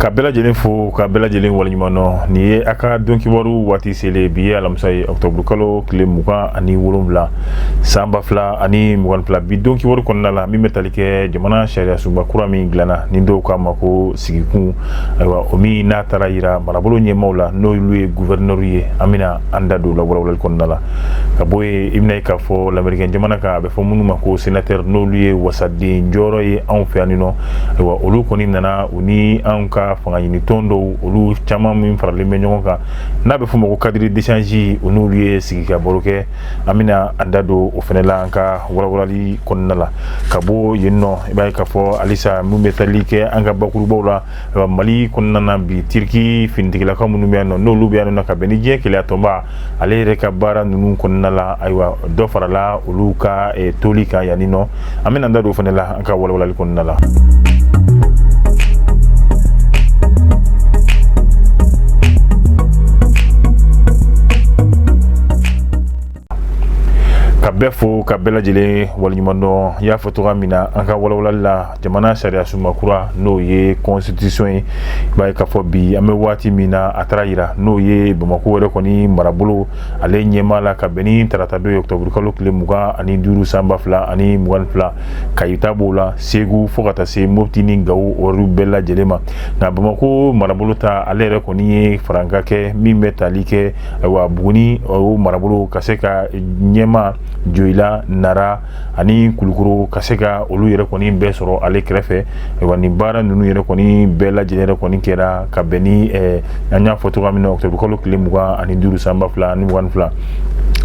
ka bɛɛ lajɛlen fo ka bɛɛ lajɛlen waleɲumandɔn nin ye a ka don kibaru waati selen bi ye alamisa ye ɔktɔburu kalo tile mugan ani wolonwula san ba fila ani mugan fila bi don kibaru kɔnɔna la min bɛ tali kɛ jamana sariyasunba kura min dilanna ni dɔw k'a ma ko sigikun ayiwa o min n'a taara yira marabolo ɲɛmaaw la n'olu ye guvɛrinɛriw ye an bɛna an da don o la walawalali kɔnɔna la ka bɔ yen i bɛna ye k'a fɔ lamerikɛn jamana kan a bɛ fɔ minnu ma ko senatɛri n'olu ye wasaden jɔyɔrɔ ye anw fɛ yan nin nɔ ayiwa olu kɔni nana u ni anw ka fanga ɲini tɔn dɔw olu caman min faralen bɛ ɲɔgɔn kan n'a bɛ fɔ ma ko cadre d'échange u n'olu ye sigi ka baro kɛ an bɛna an da don o fɛnɛ la an ka walawalali kɔnɔna la ka bɔ yen nɔ i b'a ye k'a fɔ halisa min bɛ tali kɛ an ka bakurubaw la ayiwa mali kɔnɔna na bi tiriki finitigilakaw minnu bɛ yan nɔ n'olu bɛ yan nɔ ka bɛn ni diɲɛ kelenya tɔnba ale yɛrɛ ka baara ninnu kɔnɔna la ayiwa dɔ farala olu ka eh, toli kan yanni nɔ an bɛna an da don o fɛnɛ la an ka walawalali kɔnɔna la ka bɛɛ fo ka bɛɛ lajɛlen waleɲumandɔn y'a fɔ cogoya min na an ka walawalali la jamana sariya sunba kura n'o ye constitution ye i b'a ye k'a fɔ bi an bɛ waati min na a taara yira n'o ye bamako yɛrɛ kɔni marabolo ale ɲɛmaa la ka bɛn ni taratadon ye octobre kalo tile mugan ani duuru san ba fila ani mugan fila kayi ta b'o la segu fo ka taa se mopti ni gawo olu bɛɛ lajɛlen ma nka bamako marabolo ta ale yɛrɛ kɔni ye farankan kɛ min bɛ tali kɛ ayiwa buguni o marabolo ka se ka ɲɛma joyila nara ani kulukoro ka se ka olu yɛrɛ kɔni bɛɛ sɔrɔ ale kɛrɛfɛ ayiwa nin baara ninnu yɛrɛ kɔni bɛɛ lajɛlen yɛrɛ kɔni kɛra ka bɛn ni an y'a fɔ cogoya min na octobre kalo tile mugan ani duuru san ba fila ani mugan fila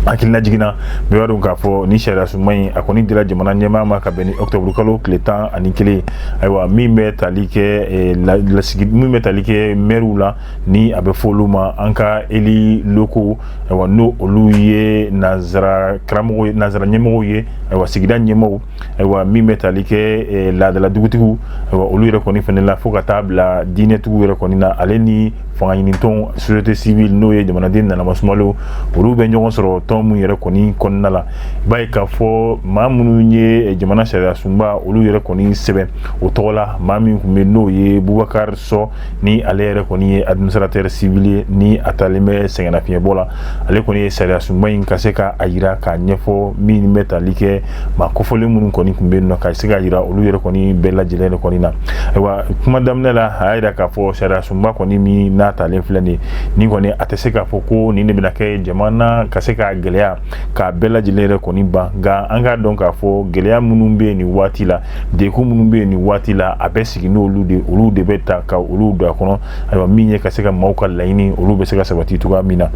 hakililajigin na bɛɛ b'a dɔn k'a fɔ nin sariya sunba in a kɔni dira jamana ɲɛmaa ma ka bɛn ni octobre kalo tile tan ani kelen ayiwa min bɛ tali kɛ lasigi min bɛ tali kɛ mɛriw la ni a bɛ fɔ olu ma an ka élus locaux ayiwa n'o olu ye nanzara karamɔgɔ nanzara ɲɛmɔgɔw ye ayiwa sigida ɲɛmɔgɔw ayiwa min bɛ tali kɛ eh, laadala dugutigiw ayiwa olu yɛrɛ kɔni fɛnɛ la fo ka taa bila diinɛtigiw yɛrɛ kɔni na ale ni fanga ɲinitɔn société civile n'o ye jamanaden nanama sumalo olu bɛ ɲɔgɔn sɔrɔ tɔn minnu yɛrɛ kɔni kɔnɔna la i b'a ye k'a fɔ maa minnu ye eh, jamana sariya sunba olu yɛrɛ kɔni sɛbɛn o tɔgɔ la maa min tun bɛ n'o ye bubakari sɔ ni ale yɛrɛ kɔni ye administrateur civil ye ni a talen bɛ sɛgɛnnafiɲɛbɔ la ale kɔni ye sariya sunba in ka se ka a yira k'a ɲɛfɔ min bɛ tali kɛ maa kofɔlen minnu kɔni tun bɛ yen nɔ ka se ka yira olu yɛrɛ kɔni bɛɛ lajɛlen yɛrɛ kɔni na ayiwa kuma daminɛ la a y'a yira k'a fɔ sariya sunba kɔni min n'a talen filɛ nin ye nin kɔni a tɛ se k'a fɔ ko nin de bɛna kɛ jamana ka se k'a gɛlɛya k'a bɛɛ lajɛlen yɛrɛ kɔni ban nka an k'a dɔn k'a fɔ gɛlɛya minnu bɛ yen nin waati la degun minnu bɛ yen nin waati la a bɛ sigi n'olu de olu de bɛ ta ka olu don a kɔnɔ ayiwa min ye ka se ka maaw ka laɲini olu bɛ se ka sabati cogoya min na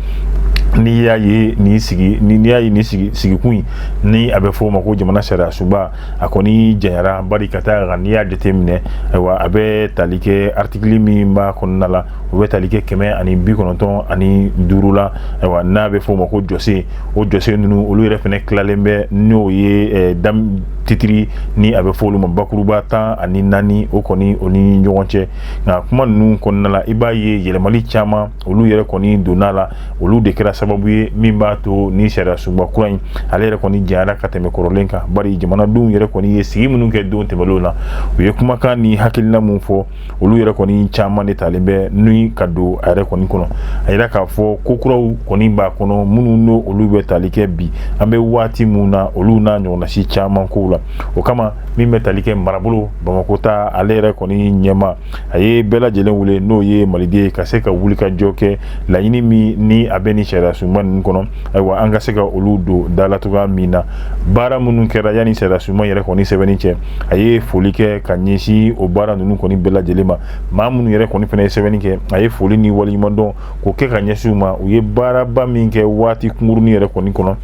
n'i y'a ye nin sigikun in ni a bɛ fɔ o ma ko jamana sariya sunba a kɔni janyara bari ka d'a kan n'i y'a jateminɛ ayiwa a bɛ tali kɛ artikili min b'a kɔnɔna la o bɛ tali kɛ kɛmɛ ani bi kɔnɔntɔn ani duuru la ayiwa n'a bɛ fɔ o ma ko jɔsen o jɔsen ninnu olu yɛrɛ fɛnɛ tilalen bɛ n'o ye titiri ni a bɛ fɔ olu ma bakuruba tan ani naani o kɔni o ni ɲɔgɔn cɛ nka kuma ninnu kɔnɔna la i b'a ye yɛlɛmali caman olu yɛrɛ kɔni donna la olu de kɛra sababu ye min b'a to ni sariya sunba kura in ale yɛrɛ kɔni janyara ka tɛmɛ kɔrɔlen kan bari jamanadenw yɛrɛ kɔni ye sigi minnu kɛ don tɛmɛnlenw na u ye kumakan ni hakilina min fɔ olu yɛrɛ kɔni caman de talen bɛ ni ka don a yɛrɛ kɔni kɔnɔ a yira k'a fɔ ko kuraw kɔni b'a kɔnɔ minnu n'o olu bɛ tali kɛ bi an bɛ waati min na olu n'a ɲɔgɔnnasi caman kow la o kama min bɛ tali kɛ marabolo bamakɔ ta ale yɛrɛ kɔni ɲɛmaa ye bɛɛ lajɛlen wele n'o ye maliden ye ka se ka wuli ka jɔ kɛ laɲini min ni a bɛ ni sariya sunba ninnu kɔnɔ ayiwa an ka se ka olu don da la cogoya min na baara minnu kɛra yanni sariya sunba yɛrɛ kɔni sɛbɛnni cɛ a ye foli kɛ ka ɲɛsin o baara ninnu kɔni bɛɛ lajɛlen ma maa minnu yɛrɛ kɔni fɛnɛ ye sɛbɛnni kɛ a ye foli ni waleɲumandɔn k'o kɛ ka ɲɛsin u ma u ye baaraba min kɛ waati kunkurunnin yɛrɛ kɔni kɔnɔ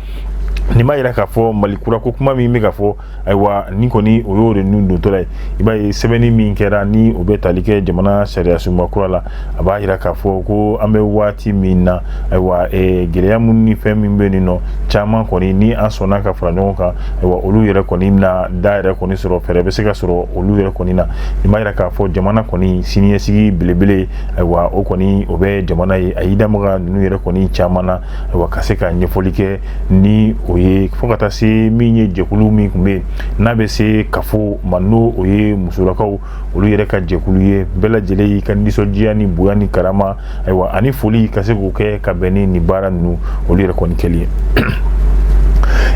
nin b'a yira k'a fɔ mali kura ko kuma min bɛ ka fɔ ayiwa ni kɔni o y'o de nun dontɔla ye i b'a ye sɛbɛnni min kɛra ni o bɛ tali kɛ jamana sariya sunba kura la a b'a yira k'a fɔ ko an bɛ waati min na ayiwa eh, gɛlɛya minnu ni fɛn min bɛ nin nɔ caman kɔni ni an sɔnna ka fara ɲɔgɔn kan ayiwa olu yɛrɛ kɔni na da yɛrɛ kɔni sɔrɔ fɛɛrɛ bɛ se ka sɔrɔ olu yɛrɛ kɔni na i b'a yira k'a fɔ jamana kɔni siniɲɛsigi belebele ayiwa o kɔni o bɛ jamana ye a y'i da maga ninnu yɛrɛ kɔni caman na wa ka se ka ɲɛfɔli kɛ ni o ye fo ka taa se min ye jɛkulu min tun bɛ yen n'a bɛ se cafo ma n'o o ye musolakaw olu yɛrɛ ka jɛkulu ye bɛɛ lajɛlen y'i ka nisɔndiya ni bonya ni karama ayiwa ani foli ka se k'o kɛ ka bɛn ni nin baara ninnu olu yɛrɛ kɔni kɛli ye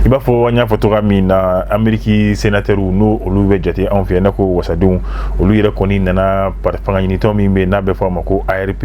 i b'a fɔ an y'a fɔ cogoya min na ameriki senatɛriw n'o olu bɛ jate anw fɛ yan n'a ko wasadenw olu yɛrɛ kɔni nana fangaɲinitɔn min bɛ n'a bɛ fɔ a ma ko arp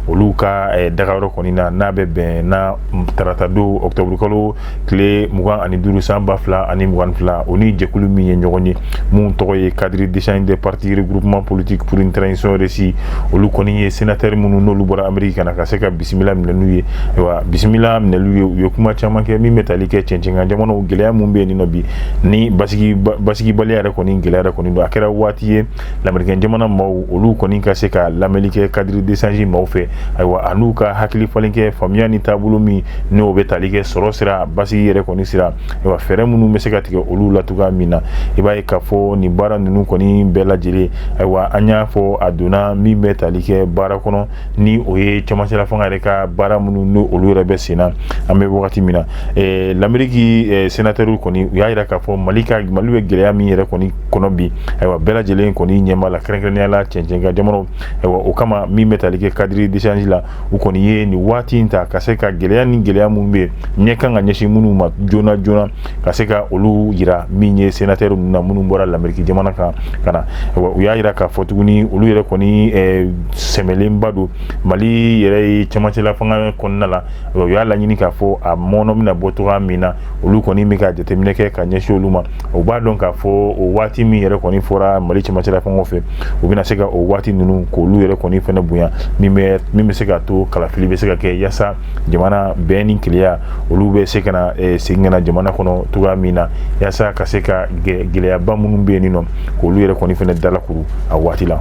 olu ka eh, dagayɔrɔ kɔni na n'a bɛ bɛn na tarata don octobre kalo tile mugan ani duuru san ba fila ani mugan fila o ni jɛkulu min ye ɲɔgɔn ye mun tɔgɔ ye cadre d'échange des partis regroupement politique pour une transition réussie olu kɔni ye sénateurs minnu n'olu bɔra amérique ka na ka se ka bisimila minɛ n'u ye ayiwa bisimila minɛliw ye u ye kuma caman kɛ min bɛ tali kɛ cɛncɛnkan jamanaw gɛlɛya mun bɛ yen nɔ bi ni basigi basigibaliya yɛrɛ kɔni gɛlɛya yɛrɛ kɔni don a kɛra waati ye lamerikɛn jamana maaw olu kɔni ka se ka lamɛnni kɛ cadre d'échange maaw fɛ ayiwa a n'u ka hakili falen kɛ faamuya ni taabolo min n'o bɛ tali kɛ sɔrɔ sira basigi yɛrɛ kɔni sira ayiwa fɛɛrɛ minnu bɛ se ka tigɛ olu la cogoya min na i b'a ye k'a fɔ nin baara ninnu kɔni bɛɛ lajɛlen ayiwa an y'a fɔ a donna min bɛ tali kɛ baara kɔnɔ ni o ye camancɛla fanga yɛrɛ ka baara minnu n'o olu yɛrɛ bɛ sen na an bɛ wagati min na ɛɛ lameriki senatɛriw kɔni u y'a jira k'a fɔ mali ka mali bɛ gɛlɛya min yɛrɛ kɔni kɔnɔ bi ayiwa bɛɛ lajɛlen kɔni ɲɛma la kɛrɛnkɛrɛnya la cɛncɛnka jamanaw ayiwa o kama min bɛ tali kɛ cadre d'échange la u kɔni ye nin waati in ta ka se ka gɛlɛya ni gɛlɛya minnu bɛ ɲɛ kan ka ɲɛsin minnu ma joona joona ka se ka olu yira min ye senatɛri ninnu na minnu bɔra lameriki jamana kan ka na ayiwa u y'a yira k'a fɔ tuguni olu yɛrɛ kɔni eh, sɛmɛlenba don mali yɛrɛ ye cɛmancɛla fanga kɔnɔna la u y'a laɲini k'a fɔ a mɔnɔ bɛna bɔ cogoya min na olu kɔni bɛ ka jateminɛ kɛ ka ɲɛsin olu ma o b'a dɔn k'a fɔ o waati min yɛrɛ kɔni fɔra mali cɛmancɛla fanga fɛ u bɛna se ka o waati ninnu k'olu yɛrɛ kɔni fɛnɛ bonya min bɛ se ka to kalafili bɛ se ka kɛ yasa jamana bɛn ni keleya olu bɛ se ka na segin ka na jamana kɔnɔ cogoya min na yasa ka se ka gɛlɛyaba minnu bɛ yen nɔ k'olu yɛrɛ kɔni fɛnɛ dalakuru a waati la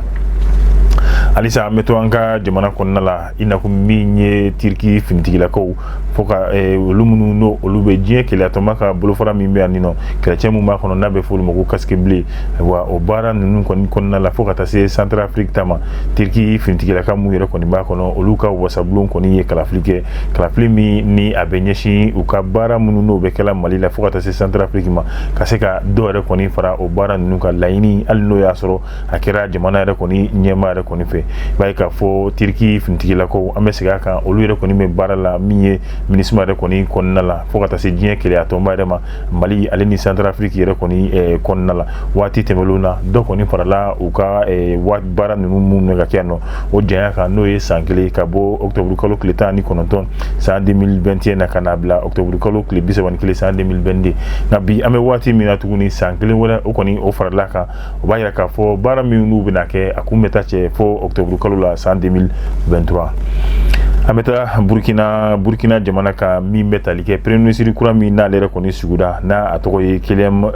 halisa an bɛ to an ka jamana kɔnɔna la i n'a fɔ min ye tiriki finitigilakaw fo ka eh, olu minnu n'o olu bɛ diɲɛ keleya tɔnba ka bolofara min bɛ yan ninɔ kɛlɛcɛ min b'a kɔnɔ n'a bɛ f'olu ma ko casque bleu ayiwa o baara ninnu kɔni kɔnɔna la fo ka taa se centrafrique ta ma tiriki finitigilaka minnu yɛrɛ kɔni b'a kɔnɔ olu ka wasabulon kɔni ye kalafili kɛ kalafili min ni a bɛ ɲɛsin u ka baara minnu n'o bɛ kɛla mali la fo ka taa se centrafrique ma ka se ka dɔ yɛrɛ kɔni fara o baara ninnu ka laɲini hali n'o y'a sɔrɔ a kɛra jamana yɛrɛ kɔni ɲɛmaa yɛrɛ kɔni fɛ i b'a ye k'a fɔ tiriki finitigilakaw an bɛ segin a kan olu yɛrɛ kɔni bɛ baara la min ye minusma yɛrɛ kɔni kɔnɔna la fo ka taa se diɲɛ keleya tɔnba yɛrɛ ma mali ale ni centrafrique yɛrɛ kɔni eh, kɔnɔna la waati tɛmɛlenw na dɔ kɔni farala u ka eh, baara ninnu minnu bɛ ka kɛ yan nɔ o janya kan n'o ye san kelen ka bɔ octobre kalo tile tan ni kɔnɔntɔn san 2021 na ka na bila octobre kalo tile bi saba ni kelen san 2022 nka bi an bɛ waati min na tuguni san kelen wɛrɛ o kɔni o farala kan o b'a yira k'a fɔ baara min n'u bɛna kɛ a kun bɛ taa cɛ fo octobre kalo la san 2023 an bɛ taa burkina burkina jamana kan min bɛ tali kɛ premier ministre kura min n'ale yɛrɛ kɔni sigida n'a a tɔgɔ ye kyelem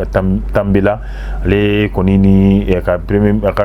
tambela ale kɔni ni a ka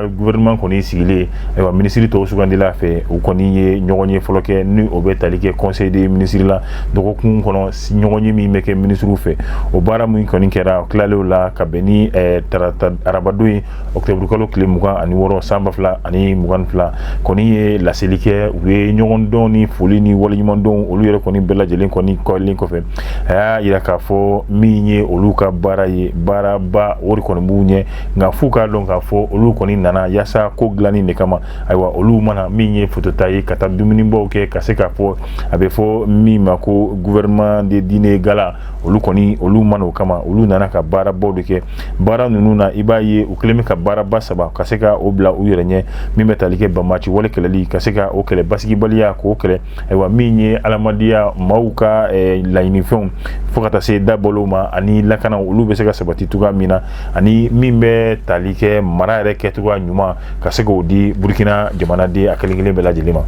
gouvernement kɔni sigilen ayiwa ministre tɔw sugandila a fɛ u kɔni ye ɲɔgɔnye fɔlɔ kɛ ni o bɛ tali kɛ conseil des ministres la dɔgɔkun kɔnɔ ɲɔgɔnye min bɛ kɛ minisiriw fɛ o baara min kɔni kɛra tilalen la ka bɛn ni eh, tarata arabadon ye ɔkutɛburukalo tile mugan ani wɔɔrɔ san ba fila ani mugan fila kɔni ye laseli kɛ u ye ɲɔgɔndɔn ni foli ni waleɲumandɔn olu yɛrɛ kɔni bɛɛ lajɛlen kɔni kɛlen kɔfɛ a y'a yira k'a fɔ min ye olu ka baara ye baaraba o de kɔni b'u ɲɛ nka f'u k'a dɔn k'a fɔ olu kɔni nana yaasa ko dilanni de kama ayiwa olu ma na min ye fotota ye ka taa dumunibaw kɛ ka se k'a fɔ a bɛ fɔ min ma ko gouvernement de dîner gala olu kɔni olu ma na o kama olu nana ka baarabaw de kɛ baara ninnu na i b'a ye u kɛlen bɛ ka baaraba saba ka se ka o bila u yɛrɛ ɲɛ min bɛ tali kɛ banbaaci wale kɛlɛli ka se ka o kɛlɛ basigibaliya k'o kɛlɛ ayiwa min ye adamadenya maaw ka eh, laɲinifɛnw fo ka taa se dabolow ma ani lakana olu bɛ se ka sabati cogoya min na ani min bɛ tali kɛ mara yɛrɛ kɛcogoya ɲuman ka se k'o di burukina jamanaden a kelen kelen bɛɛ lajɛlen ma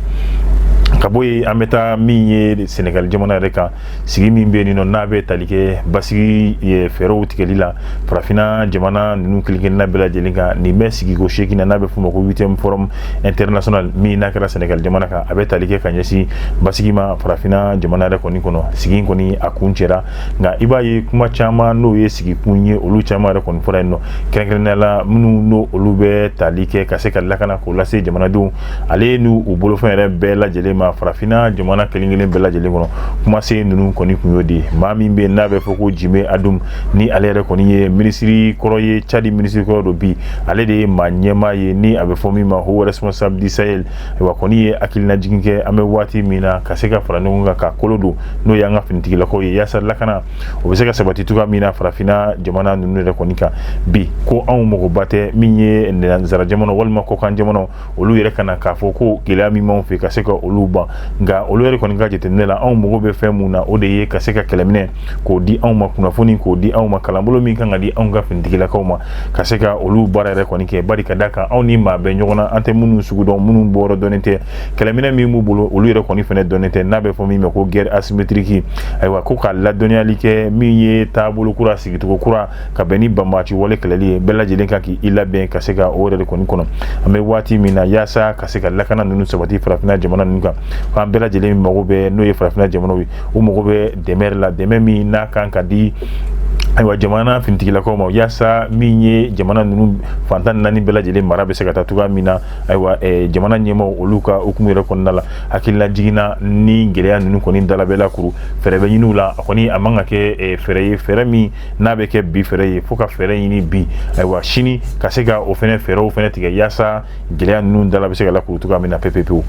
ka bɔ yen an bɛ taa min ye sɛnɛgali jamana yɛrɛ kan sigi min bɛ yen nɔ n'a bɛ tali kɛ basigi fɛɛrɛw tigɛli la farafinna jamana ninnu kelenkelenna bɛɛ lajɛlen kan nin bɛ sigiko seegin na n'a bɛ f'o ma ko huitième forum international min n'a kɛra sɛnɛgali jamana kan a bɛ tali kɛ ka ɲɛsin basigi ma farafinna jamana yɛrɛ kɔni kɔnɔ sigi kɔni a kun cɛra nka i b'a ye kuma caman n'o ye sigikun ye olu caman yɛrɛ kɔni fɔra yen nɔ kɛrɛnkɛrɛnnenya la minnu n'o olu bɛ tali kɛ ka se ka lakana k'o lase jamanadenw ale ni u bolofɛn yɛrɛ bɛɛ lajɛlen ma farafinna jamana kelen kelen bɛɛ lajɛlen kɔnɔ kumasen ninnu kɔni kun y'o de ye maa min bɛ yen n'a bɛ fɔ ko jime adum ni ale yɛrɛ kɔni ye minisiri kɔrɔ ye cadi minisiri kɔrɔ don bi ale de ye maa ɲɛmaa ye ni a bɛ fɔ min ma haut responsable du sahel ayiwa kɔni ye hakilinajigin kɛ an bɛ waati min na ka se ka fara ɲɔgɔn kan ka kolo don n'o y'an ka finitigilakaw ye yaasa lakana o bɛ se ka sabati cogoya min na farafinna jamana ninnu yɛrɛ kɔni kan bi ko anw magoba tɛ min ye nanzara jamana walima kɔkan jamana olu yɛrɛ ka na k'a fɔ ko gɛlɛya min b'anw fɛ ka se ka olu ban nka olu yɛrɛ kɔni ka jateminɛ la anw mago bɛ fɛn mun na o de ye ka se ka kɛlɛminɛ k'o di anw ma kunnafoni k'o di anw ma kalanbolo min kan ka di anw ka finitigilakaw ma ka se ka olu baara yɛrɛ kɔni kɛ bari ka da kan anw ni maa bɛ ɲɔgɔn na an tɛ minnu sugu dɔn minnu bɔyɔrɔ dɔnnen tɛ kɛlɛminɛ min b'u bolo olu yɛrɛ kɔni fana dɔnnen tɛ n'a bɛ fɔ min ma ko guerre asymétrique ayiwa ko ka ladɔnniyali kɛ min ye taabolo kura sigicogo kura ka bɛn ni banbaaci wale kɛlɛli ye bɛɛ lajɛlen kan k'i labɛn ka se ka o yɛrɛ de kɔni kɔnɔ an bɛ waati min na yaasa ka se ka lakana ninnu sabati farafinna jamana ninnu kan f'an bɛɛ lajɛlen mago bɛ n'o ye farafinna jamanaw ye u mago bɛ dɛmɛ la dɛmɛ min n'a kan ka di ayiwa jamana finitigilakaw ma yaasa min ye jamana ninnu fan tan naani bɛɛ lajɛlen mara bɛ se ka taa cogoya min na ayiwa eh, jamana ɲɛmaaw olu ka hukumu yɛrɛ kɔnɔna la hakililajigin na ni gɛlɛya ninnu kɔni dala bɛ lakuru fɛɛrɛ bɛ ɲini u la a kɔni a man ka kɛ eh, fɛɛrɛ ye fɛɛrɛ min n'a bɛ kɛ bi fɛɛrɛ ye fo ka fɛɛrɛ ɲini bi ayiwa sini ka se ka o fɛnɛ fɛɛrɛw fɛnɛ tigɛ yaasa gɛlɛya ninnu dala bɛ se ka lakuru cogoya min na pepepewu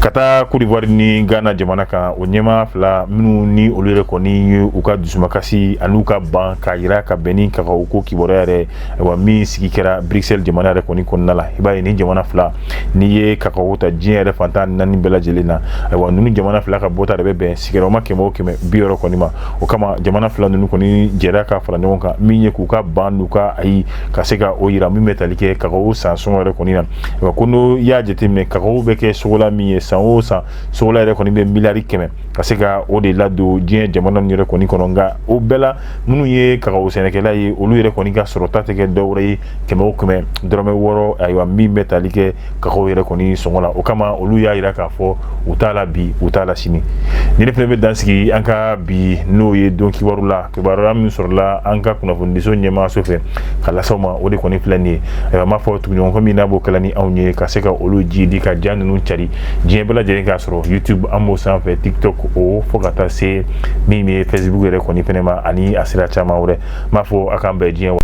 ka taa kodiwari ni ghana jamana kan o ɲɛmaa fila minnu ni olu yɛrɛ kɔni ye u ka dusumakasi an'u ka ban k'a yira ka bɛn ni kakawo ko kibaruya yɛrɛ ayiwa min sigi kɛra bruxelles jamana yɛrɛ kɔni kɔnɔna la i b'a ye nin jamana fila n'i ye kakawo ta diɲɛ yɛrɛ fan tan naani bɛɛ lajɛlen na ayiwa ninnu jamana fila ka bɔta de bɛ bɛn sigiyɔrɔma kɛmɛ o kɛmɛ bi wɔɔrɔ kɔni ma o kama jamana fila ninnu kɔni jɛra ka fara ɲɔgɔn kan min ye k'u ka ban n'u ka ayi ka se ka o yira min bɛ tali kɛ kakawo san sɔngɔ yɛrɛ kɔni na wa ko n'i y'a jateminɛ kakawo bɛ kɛ sokola min ye san o san sokola yɛrɛ kɔni bɛ miliyari kɛmɛ ka se ka o de ladon diɲɛ jamana ninnu yɛrɛ kɔni kɔnɔ nka o bɛɛ la minnu ye kakawo sɛnɛkɛla ye olu yɛrɛ kɔni ka sɔrɔta tɛ kɛ dɔwɛrɛ ye kɛmɛ o kɛmɛ dɔrɔmɛ wɔɔrɔ ayiwa min bɛ tali kɛ kaw yɛrɛ kɔni sɔngɔ la o kama olu y'a yira k'a fɔ u t'a la bi u t'a la sini ni ne fana bɛ dansigi an ka bi n'o ye don kibaru la kibaruya min sɔrɔla an ka kunnafonidiso ɲɛmaaso fɛ k'a lase aw ma o de kɔni filɛ nin ye ayiwa n b'a fɔ tuguɲɔgɔnkɔ min n'a b'o kɛla ni anw ye ka se ka olu jidi ka ja ninnu cari diɲɛ bɛɛ lajɛlen k'a sɔrɔ youtube an b'o sanfɛ tiktok o fo ka taa se min ye facebook yɛrɛ kɔni fɛnɛ ma ani a sira caman wɛrɛ n b'a fɔ a k'an bɛn diɲɛ wa